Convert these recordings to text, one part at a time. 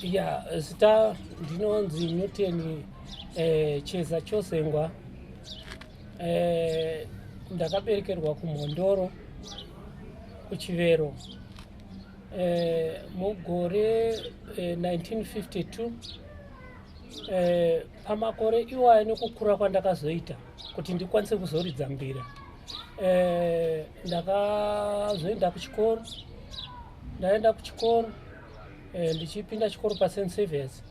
ya zita ndinonzi newton eh, cheza chosengwa eh, ndakaberekerwa kumhondoro kuchivero eh, mugore eh, 1952 eh, pamakore iwayo nekukura kwandakazoita kuti ndikwanise kuzoridza mbira eh, ndakazoenda kuchikoro ndaenda kuchikoro eh, ndichipinda chikoro pasen service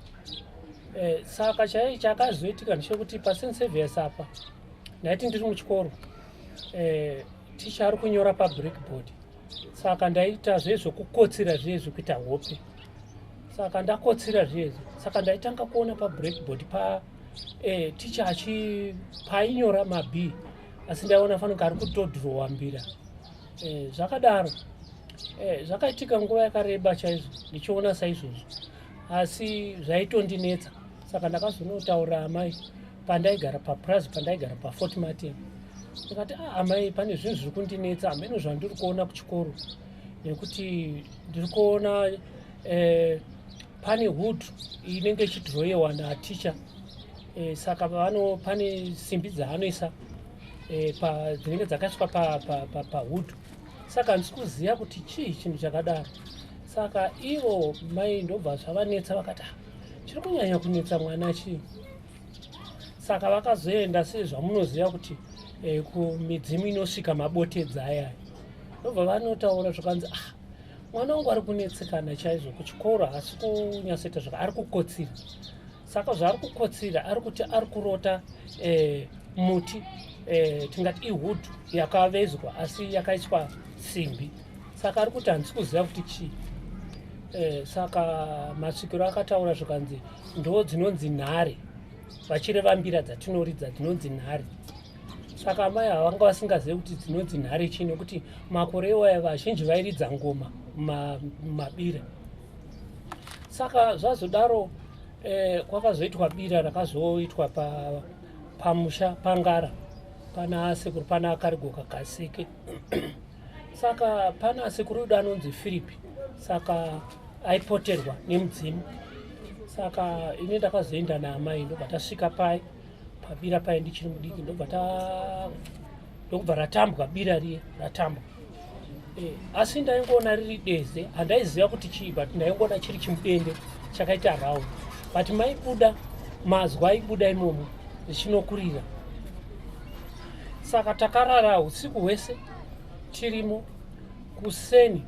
eh, saka chai chakazoitika ndichekuti pasen service apa ndaiti ndiri muchikoro eh, ticha ari kunyora pabreakboard saka ndaita zviye zvokukotsira zviye zvekuita hope saka ndakotsira zviye saka ndaitanga kuona pabreakboard pa eh, ticha achi painyora mab asi ndaiona fanike ari kutodhirowa mbira eh, zvakadaro eh, zvakaitika nguva yakareba chaizvo ndichiona saizvozvo asi zvaitondinetsa saka ndakazonotaura amai pandaigara papurazi pandaigara pafort martin ndikati a ah, amai pane zvinhu zviri kundinetsa hameno zvandiri kuona kuchikoro nekuti ndiri kuona eh, pane hood inenge ichidhiroyewa naticha eh, saka vano pane simbi dzaanoisa eh, dzinenge dzakaiswa pahood pa, pa, pa saka handisi kuziva kuti chii chinhu chakadaro saka ivo mai ndobva zvavanetsa vakati ah, chiri kunyanya kunetsa mwana chii saka vakazoenda sezvamunoziva kuti eh, kumidzimu inosvika mabotedza ayaya ndobva vanotaura zvakanzi ah mwana wangu ari kunetsekana chaizvo kuchikoro haasi kunyatsoita zvaka ari kukotsira saka zvaari kukotsira ari kuti ari kurota eh, muti eh, tingati ihudhu yakavezwa asi yakaiswa simbi saka ari kuti handisi kuziva kuti chii eh, saka masvikiro akataura zvikanzi ndo dzinonzi nhare vachireva mbira dzatinoridza dzinonzi nhare saka amai havanga vasingazive kuti dzinonzi nhare chii nekuti makore iwaya vazhinji vairidza ngoma mumabira saka zvazodaro eh, kwakazoitwa bira rakazoitwa pamusha pangara pana sekuru pana akarigoka kaseke saka pana sekuru yuda anonzi firipi saka aipoterwa nemudzimu saka ini ndakazoenda naamai ndobva tasvika pai pabira pai ndichiri mudiki ndobva ta ndokubva ratambwa bira riye ratambwa eh, asi ndaingoona riri deze handaiziva kuti chii but ndaingoona chiri chimudende chakaita round but maibuda mazwa aibuda imomo zvichinokurira saka takarara usiku hwese tirimo kuseni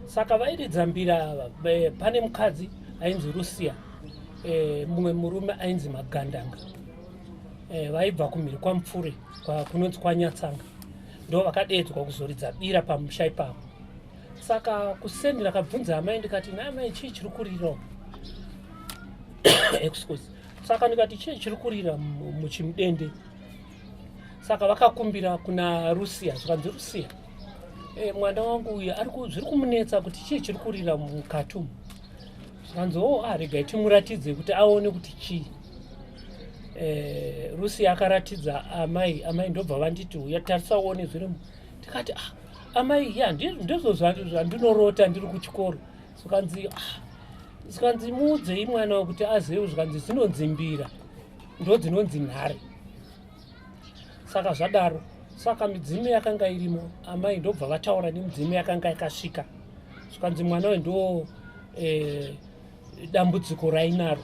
saka vairidza mbira ava eh, pane mukadzi ainzi rusia eh, mumwe murume ainzi magandanga eh, vaibva kumhiri kwamupfure kunonzi kwanyatsanga ndo vakadeedzwa kuzoridza bira pamusha ipapo saka kuseni rakabvunza amai ndikati naamai chii chiri kurira excuse saka ndikati chii chiri kurira muchimudende saka vakakumbira kuna rusia zvikanzi rusia e, mwana wangu uyu zviri kumunetsa kuti chii chiri kurira mukati umu zvikanzi o ah, regai timuratidze kuti aone kuti chii e, rusia akaratidza amai amai ndobva vanditi uya tarisa uone zvirimu ndikati ah, amai ya ndizvo zvandinorota ndiri kuchikoro zvikanzi ah, zvikanzi muudzei mwana wekuti azewe zvikanzi zvinonzimbira ndodzinonzi nhare saka zvadaro saka midzimu yakanga irimo amai ndobva vataura nemidzimu yakanga yakasvika zvikanzi mwana we ndo e, dambudziko rainaro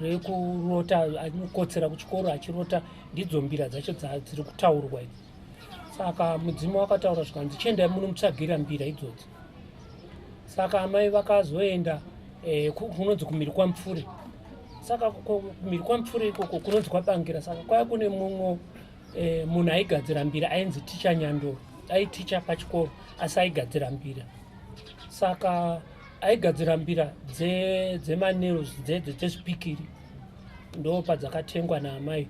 rekurota anokotsera kuchikoro achirota ndidzo mbira dzacho dziri kutaurwa idzi saka mudzimu wakataura zvikanzi chiendai muno mutsvagira mbira idzodzo saka amai vakazoenda eh, kunonzi kumiri kwamupfuri saka kumiri kwamupfuri ikoko kunonzi kwabangira saka kwaya kune mumwe eh, munhu aigadzira mbira ainzi ticha nyandoro aiticha pachikoro asi aigadzira mbira saka aigadzira mbira dzemaneros dze, dzezvipikiri dze, dze ndo padzakatengwa naamai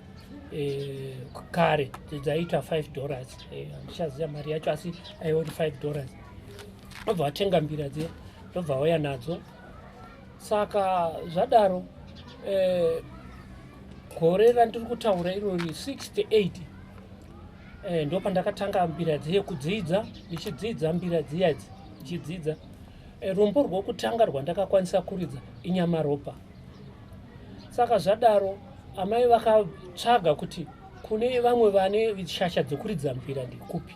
eh, kare dzaiita 5 dollars eh, handichaziva eh, mari yacho asi aiori 5 dollars ndobva vatenga mbira dziya ndobva vauya nadzo saka zvadaro eh, gore randiri kutaura irori 68 eh, ndo pandakatanga mbira dziye kudzidza ndichidzidza mbira dziya idzi ndichidzidza eh, rumbo rwokutanga rwandakakwanisa kuridza inyamaropa saka zvadaro amai vakatsvaga kuti kune vamwe vane shasha dzokuridza mbira ndikupi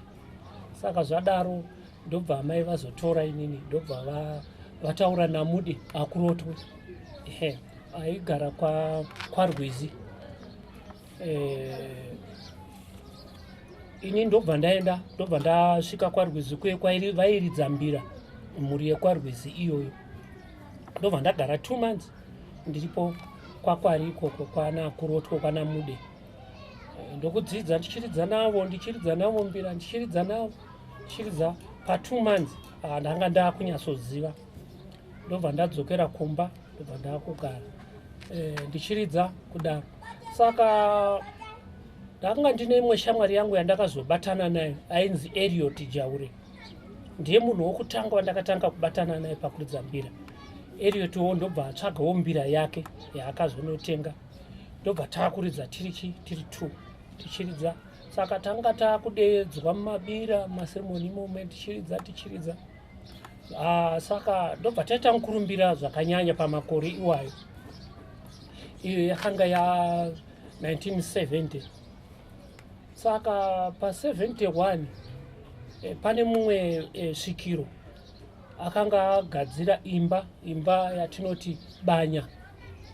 saka zvadaro ndobva amai vazotora inini ndobva va, vataura namude akurotwe ehe aigara kwa kwarwizi eh, ini ndobva ndaenda ndobva ndasvika kwarwizi kuye kwairi vairidza mbira mhuri yekwarwizi iyoyo ndobva ndagara two months ndiripo kwakwari ikoko kwana kurotwo kwana mude eh, ndokudzidza ndichiridza navo ndichiridza navo mbira ndichiridza navo ndichiridza patwo months ah, ndanga ndakunyatsoziva ndobva ndadzokera kumba ndobva ndakugara eh, ndichiridza kudaro saka ndakanga ndine imwe shamwari yangu yandakazobatana nayo ainzi ariot jaure ndiye munhu wokutanga wandakatanga kubatana naye pakuridza mbira ariot wo ndobva atsvagawo mbira yake yaakazonotenga ndobva taakuridza tiri chi tiri two tichiridza saka tanga taakudeedzwa mumabira maseremoni imomo tichiridza tichiridza ah, saka ndobva taita mukurumbira zvakanyanya pamakore iwayo iyo yakanga ya 1970 saka pa 71 eh, pane mumwe eh, svikiro akanga agadzira imba imba yatinoti banya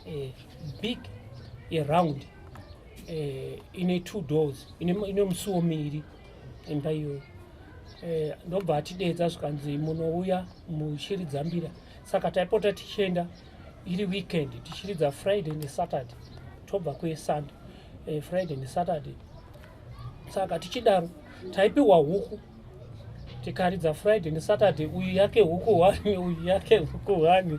eh, big yeround eh, ine two doors ine musuwo miri imba iyoyo eh, ndobva atidedza zvikanzi munouya muchiridza mbira saka taipota tichienda iri weekend tichiridza friday nesaturday tobva kuesunday eh, friday nesaturday saka tichidaro taipiwa huku tikaridza friday nesaturday uyu yake huku hwani uyu yake huku hwani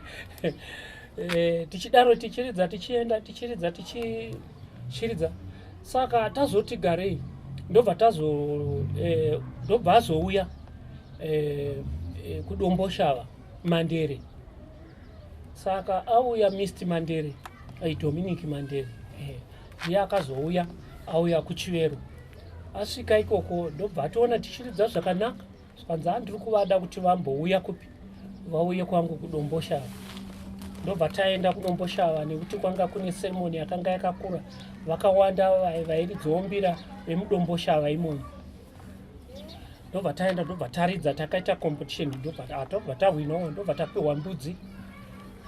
eh, tichidaro tichiridza tichienda tichiridza tichiridza saka tazoti garei ndobva tazo eh, ndobva azouya eh, eh, kudomboshava mandere saka auya mist mandere eh, dominic mandere eh, uye akazouya auya kuchivero asvika ikoko ndobva ationa tichiridza zvakanaka zvikanzi andiri kuvada kuti vambouya kupi vauye kwangu kudomboshava ndobva taenda kudomboshava nekuti kwanga kune seremoni yakanga yakakura vakawanda vairidzombira vemudomboshava imomo ndobva taenda ndobva taridza takaita competition ndobva ah, tahwinawo ndobva tapiwa mbudzi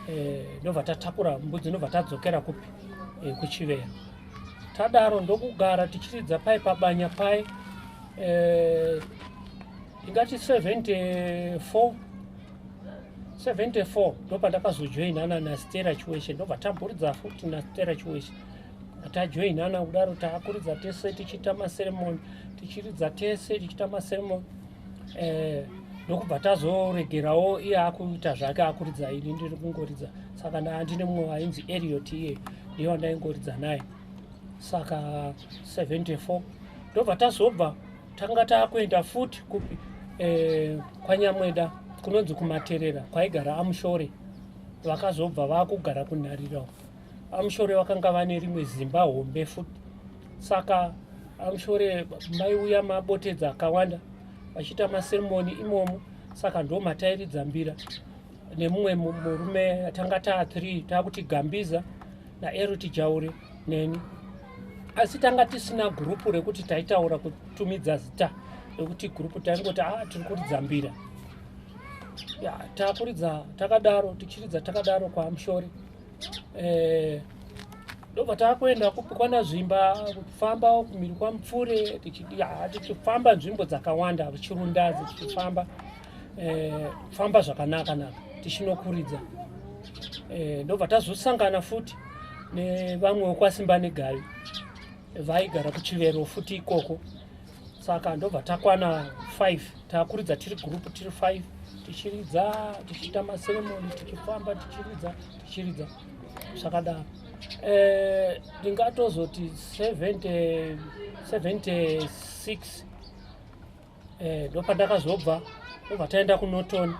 eh, ndobva tatakura mbudzi ndobva tadzokera kupi eh, kuchivera tadaro ndokugara tichiridza pai pabanya pai eh, ingati 74 74 ndopandakazojoina ana nastera chiweshe ndobva tamburidza futi nastera chiweshe tajoinana kudaro taakuridza tese tichiita maseremoni tichiridza tese tichiita maseremoni eh, ndokubva tazoregerawo iye akuita zvake akuridza ini ndiri kungoridza saka ndandine mumwe wainzi eriot iye ndiye wandaingoridza naye saka 74 ndobva tazobva tanga taakuenda futi kupi eh, kwanyamweda kunonzi kumaterera kwaigara amushore vakazobva vakugara kunharira amushore vakanga vane rimwe zimba hombe futi saka amushore maiuya mabotedza akawanda vachiita maseremoni imomo saka ndo matairidza mbira nemumwe murume atanga taa three taakuti gambiza naeroti jaure neni asi tanga tisina gurupu rekuti taitaura kutumidza zita rekuti gurupu taingoti a ah, tiri kuridza mbira ya takuridza takadaro tichiridza takadaro kwaamushori eh, ndobva takuenda kupi kwana zvimba kufamba kumiri kwamupfure tichifamba nzvimbo dzakawanda chirundazi tichifamba eh, famba zvakanaka naka tichinokuridza eh, ndobva tazosangana futi nevamwe wekwasimba negavi vaigara kuchivero futi ikoko saka ndobva takwana 5 takuridza tiri group tiri 5 tichiridza tichiita maseremoni tichifamba tichiridza tichiridza zvakadaro eh, ndingatozoti e, 76 eh, ndopandakazobva ndobva taenda kunoton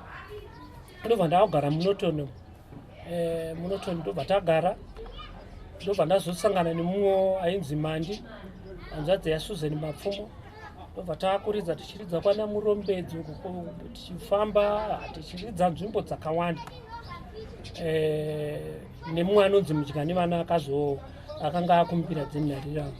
ndobva ndakugara munoton eh, munoton ndobva tagara ndobva ndazosangana nemumwe ainzi mandi hanzvadzi yasusan mapfumo ndobva taakuridza tichiridza kwana murombedzi tichifamba tichiridza nzvimbo dzakawanda eh, nemumwe anonzi mudya nevana akazoo akanga akumbira dzenharirano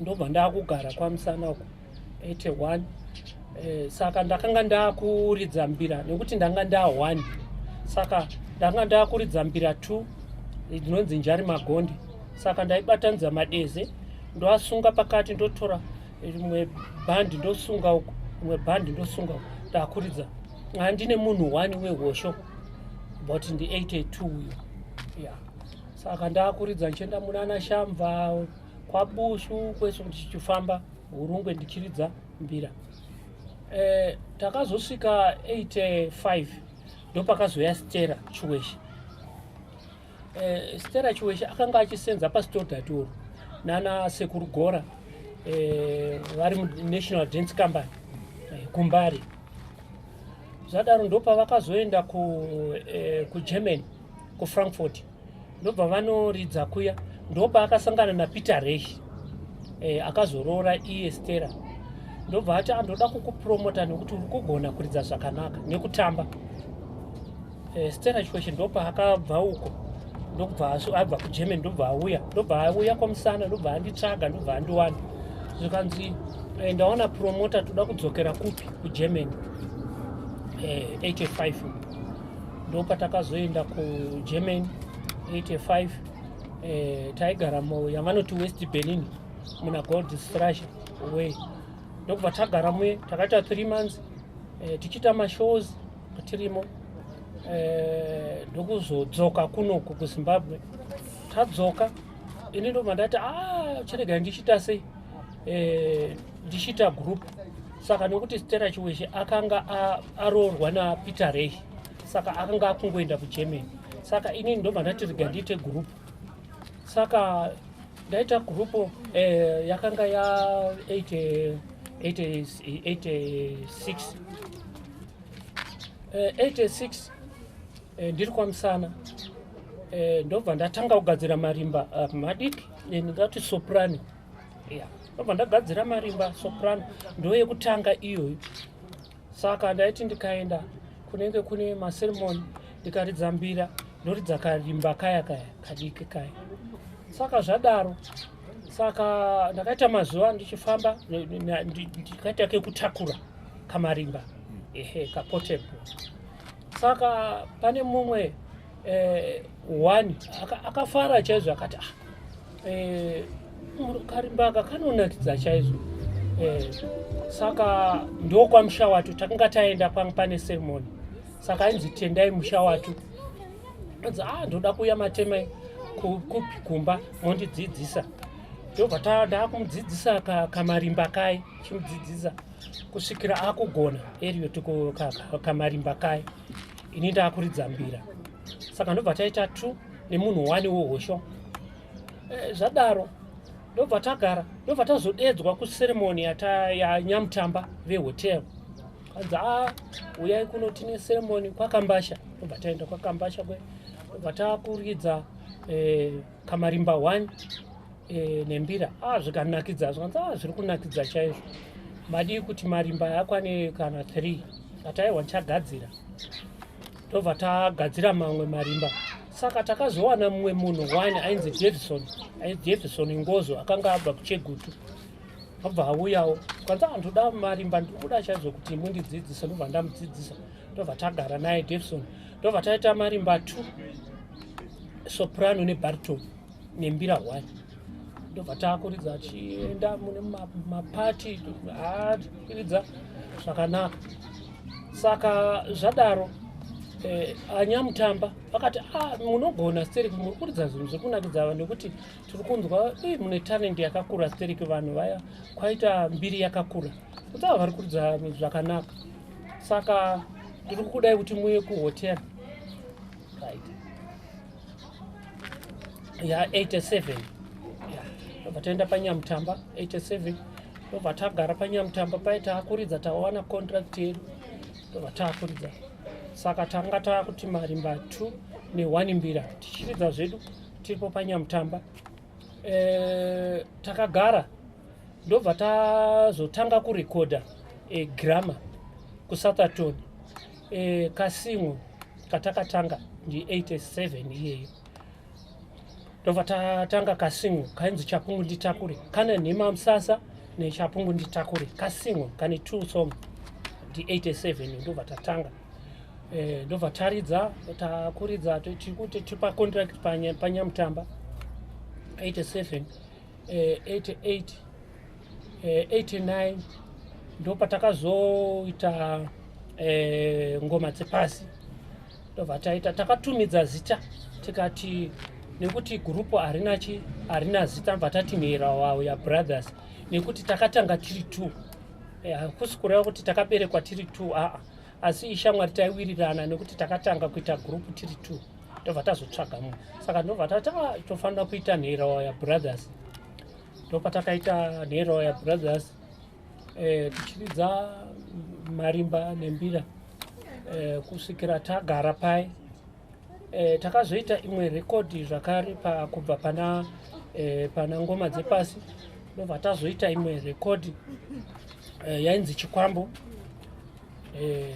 ndobva ndakugara kwamusana uku 81 eh, saka ndakanga ndakuridza mbira nekuti ndanga nda 1 saka ndanga ndakuridza mbira 2 ndinonzi njari magonde saka ndaibatanidza madeze ndoasunga pakati ndotora rimwe bhandi ndosunga uku rimwe bhandi ndosunga uku ndakuridza handine munhu one wehosho but ndi 82 uyo ya saka ndakuridza ndichienda munana shamva kwabushu kwese kuti chichifamba hurungwe ndichiridza mbira e, takazosvika 85 ndopakazouya stera chiweshe e, stera chiweshe akanga achisenza pasitodatoro nana sekuru gora e, vari munational dance company e, kumbari zvadaro ndopavakazoenda kugermany ku, e, ku kufrankfurt ndobva vanoridza kuya ndopaakasangana napeter rehi e, eh, akazoroora iye stera ndobva ati andoda ah, kukupromota nekuti uri kugona kuridza zvakanaka nekutamba e, stera chikweshe ndopaakabva uko ndokubva abva kugerman ndobva auya ndobva auya kwamusana ndobva anditsvaga ndobva andiwana zvikanzi eh, ndaona promota toda kudzokera kupi kugerman 85 ndopatakazoenda kugermany 85 eh, taigara mu yavanoti west berlin muna gold strasha way ndokubva tagara muye takaita three months eh, tichiita mashows tirimo eh, ndokuzodzoka eh, kunoku kuzimbabwe tadzoka ini ndobva ndati a ah, chirega ndichiita sei eh, ndichiita group saka nekuti stera chiweshe akanga aroorwa napeter rey saka akanga akungoenda kugermany saka inini ndobva ndati rega ndiite group saka ndaita group eh, yakanga ya 86 86 ndiri kwamusana eh, ndobva ndatanga kugadzira marimba ah, madiki eh, ndingati soprani yeah. ndobva ndagadzira marimba soprano ndo yekutanga iyoyo saka ndaiti ndikaenda kunenge kune maseremoni ndikaridza mbira ndoridza karimba kaya kaya kadiki kaya saka zvadaro saka ndakaita mazuva ndichifamba ndikaita kekutakura kamarimba ehe kapotebho saka pane mumwe eh, one akafara chaizvo akati ah, eh, karimbaka kanonakidza chaizvo eh, saka ndokwamusha watu takanga taenda kwanga pane seremoni saka ainzi tendai musha watu anzi a ah, ndoda kuuya matema kupi kumba mondidzidzisa ndobva tada kumudzidzisa kamarimba kai chimudzidzisa kusvikira akugona eriyo kamarimba kai ini ndakuridza mbira saka ndobva taita two nemunhu wani wohosho eh, zvadaro ndobva tagara ndobva tazodeedzwa kuseremoni yanyamutamba vehotel kanzi a ah, uyai kuno tine seremoni kwakambasha ndobva taenda kwakambasha kwe ndobva takuridza eh, kamarimba 1 e, eh, nembira ah, zvikanakidza zvikanzi ah, zviri kunakidza chaizvo madii kuti marimba akwane kana 3 ataiwa ndichagadzira tobva tagadzira mamwe marimba saka takazowana mumwe munhu one ainzi jefferson jefferson ngozo akanga abva kuchegutu abva auyawo kwanza andoda marimba ndikuda chaizvo kuti mundidzidzise ndobva ndamudzidzisa ndobva tagara naye davison ndobva taita marimba t soprano nebarto nembira one ndobva taakuridza achienda mune mapati aakuridza zvakanaka saka zvadaro eh, anyamutamba vakati ah, munogona steriki muri kuridza zvinhu zvekunakidza vanhu nekuti tiri kunzwa eh, mune tarendi yakakura steriki vanhu vaya kwaita mbiri yakakura kutaa vari kuridza zvakanaka saka ndiri kukudai kuti muye kuhotera right ya 87 ndobva taenda panyamutamba 87 ndobva tagara panyamutamba paye taakuridza tawana contract yedu ndobva taakuridza saka tanga taakuti marimba 2 ne1 mbira tichiridza zvedu tiripo panyamutamba eh, takagara ndobva tazotanga kurekodha eh, grammar kusathaton eh, kasimwo katakatanga ndi 87 iyeyo ndobva tatanga kasimwo kainzi chapungu nditakure kana nhema musasa nechapungu nditakure kasimwo kane two song ndi 87 ndobva tatanga eh, ndobva taridza takuridza tikuti tipa contract panyamutamba 87 88 89 ndopatakazoita eh, ngoma dzepasi ndobva taita takatumidza zita tikati nekuti gurupu harina chi harina zita bva tati mhera wawo yabrothers nekuti takatanga tiri two eh, hakusi kureva kuti takaberekwa tiri two aa asi ishamwari taiwirirana nekuti takatanga kuita group tiri two ndobva tazotsvaga munhu saka ndobva tati ah, tofanira kuita nherowaya brothers ndopatakaita nherowaya brothers eh, tichiridza marimba nembira eh, kusvikira tagara paye E, takazoita imwe rekodhi zvakare pa, kubva pana, e, pana ngoma dzepasi ndobva tazoita imwe rekodhi e, yainzi chikwambo e,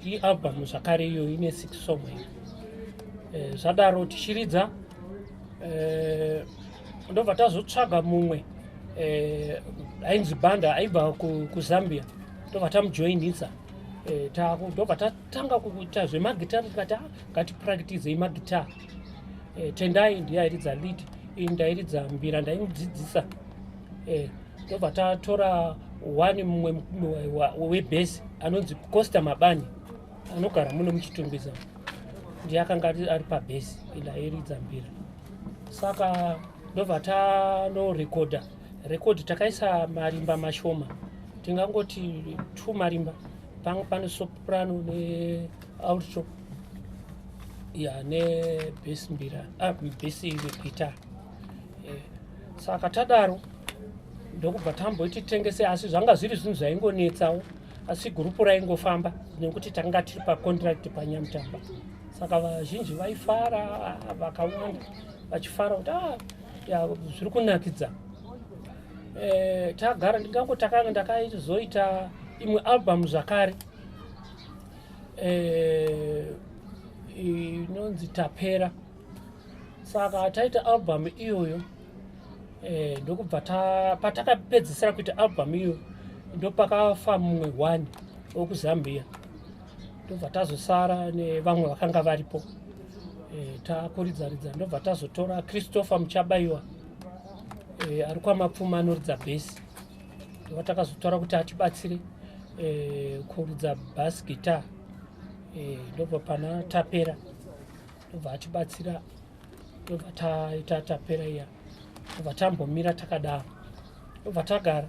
ialbum zvakare iyo ine six song e, zvadaro tichiridza e, ndobva tazotsvaga mumwe e, ainzi banda aibva kuzambia ndobva tamujoinisa e, ndobva tanga kuita zvemagitare tikati ah, ngatipraktizei magitare e, eh, tendai ndiye airidza lead ini ndairidza mbira ndaimudzidzisa e, ndobva tatora one mumwe webhesi anonzi costa mabani anogara muno muchitungwiza ndiye akanga ari pabhesi ila airidza mbira saka ndobva tanorekodha rekodhi takaisa marimba mashoma tingangoti two marimba panga pane soprano nealto ya nebhesi mbira ah, bhesi guitar eh, saka tadaro ndokubva tamboiti tengese asi zvanga zviri zvinhu zvaingonetsawo asi gurupu raingofamba nekuti tanga tiri pacontract panyamutamba saka vazhinji vaifara vakawanda vachifara kuti ah, zviri kunakidza eh, tagara ndingango takanga ndakaizoita imwe album zvakare eh, inonzi tapera saka taita album iyoyo eh, ndokubva patakapedzisira kuita album iyoyo ndopakafa mumwe one wokuzambia ndobva tazosara nevamwe vakanga varipo eh, takuridzaridza ndobva tazotora christopher muchabaiwa e, ari kwamapfuma anoridza bhesi ava takazotaura kuti atibatsire e, kuridza bas guitar e, ndobva pana tapera ndobva atibatsira ndobva taita tapera iya ndobva tambomira takadaro tobva tagara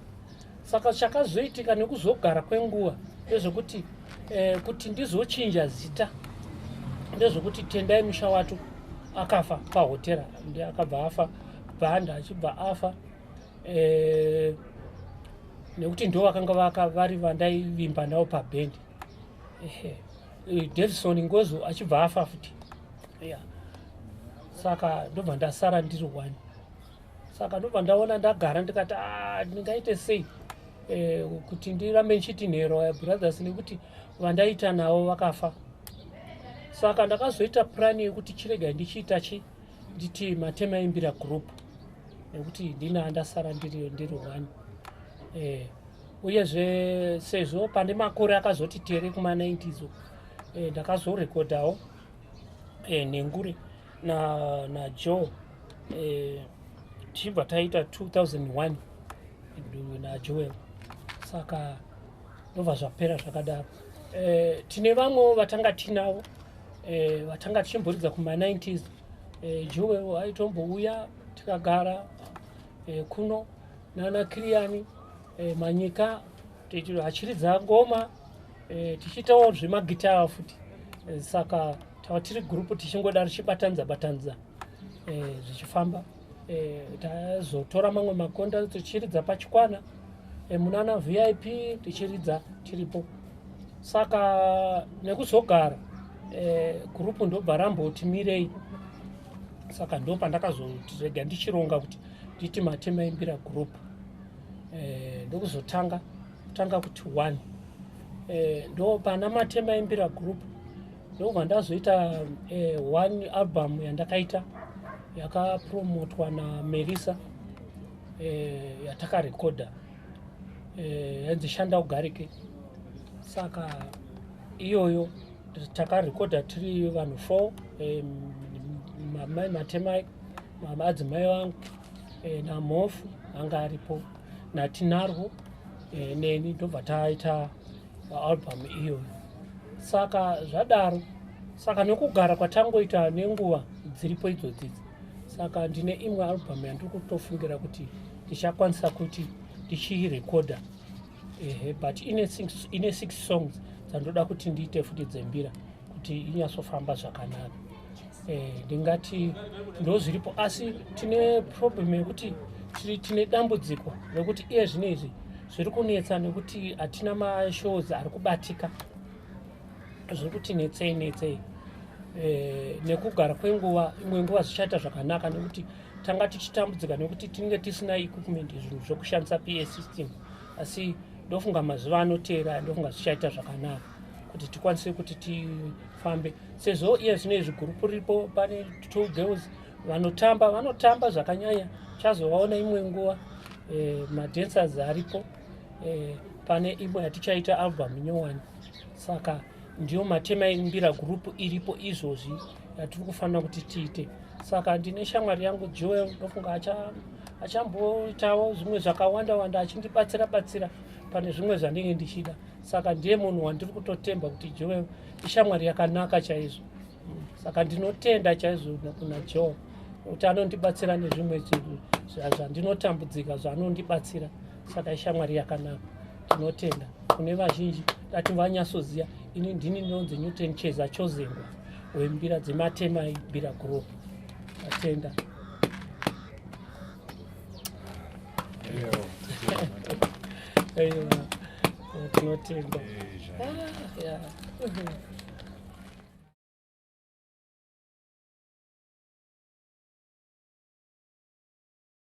saka chakazoitika nekuzogara kwenguva ndezvekuti eh, kuti ndizochinja zita ndezvekuti tendai musha wato akafa pahotera ndi akabva afa bhanda achibva afa eh, nekuti ndo vakanga vaka vari vandaivimba navo pabhendi eh, davison ngozo achibva afa futi yeah. saka ndobva ndasara ndiri one saka ndobva ndaona ndagara ndikati ah, ndingaite sei eh, kuti ndirambe ndichiti nhero eh, brothers nekuti vandaita navo vakafa saka ndakazoita purani yekuti chirega ndichiita chi nditi matema imbira group nekuti ndini andasara ndiri ndiri one eh, uyezve sezvo pane makore akazoti tere kuma 90 zo eh, ndakazorekodhawo eh, nenguri na, na joe eh, tichibva taita 2001 na joel saka ndobva zvapera zvakadaro eh, tine vamwewo vatanga tinavo eh, vatanga tichimboridza kuma 90s eh, joel aitombouya tikagara eh, kuno nana kiriyani eh, manyika tichiridza ngoma e, tichiitawo zvemagitaya futi e, saka tava tiri gurupu tichingoda richibatanidza batanidza e, zvichifamba e, tazotora mamwe makonda tichiridza pachikwana e, munana vip tichiridza tiripo saka nekuzogara e, gurupu ndobva ramboti mirei saka ndopandakazoti rega ndichironga kuti nditi matema imbira gurupu eh, ndokuzotanga kutanga kuti one eh, ndo pana matema imbira group ndobva ndazoita eh, one album yandakaita yakapromotwa namerisa eh, yatakarekodha eh, yanzi shanda ugarike saka iyoyo takarekodha tiri vanhu four eh, mamai matemai madzimai vangu e, namhofu anga aripo natinarwo e, neni ndobva taita album iyoyo saka zvadaro saka nekugara kwatangoita nenguva dziripo idzodzidzi saka ndine imwe album yandiri kutofungira kuti ndichakwanisa kuti ndichiirekodha ehe but ine six, ine six songs dzandoda kuti ndiite futi dzembira kuti inyatsofamba zvakanaka eh, ndingati ndo zviripo asi tine problem yekuti tine dambudziko rekuti iye zvino izvi zviri kunetsa nekuti hatina mashows ari kubatika zviri kuti netsei netsei eh, nekugara kwenguva imwe nguva zvichaita zvakanaka nekuti tanga tichitambudzika nekuti tinenge tisina equipment zvinhu zvekushandisa pa system asi ndofunga mazuva anoteera ndofunga zvichaita zvakanaka kuti tikwanise kuti tifambe sezvo iye zvino izvi gurupu riripo pane two girls vanotamba vanotamba zvakanyanya chazovaona imwe nguva eh, madancers aripo eh, pane imwe yatichaita album nyowani saka ndiyo matema ekumbira gurupu iripo izvozvi yatiri kufanira kuti tiite saka ndine shamwari yangu joel ndofunga achamboitawo zvimwe zvakawanda wanda achindibatsira batsira pane zvimwe zvandinge ndichida saka ndiye munhu wandiri kutotemba kuti joel ishamwari yakanaka chaizvo saka ndinotenda chaizvo kuna joel kuti anondibatsira nezvimwe zvandinotambudzika zvaanondibatsira saka ishamwari yakanaka Tinotenda kune vazhinji dati vanyatsoziva ini ndini ndinonzi newton cheza chozengwa wembira dzematemai bira group atenda tinotenda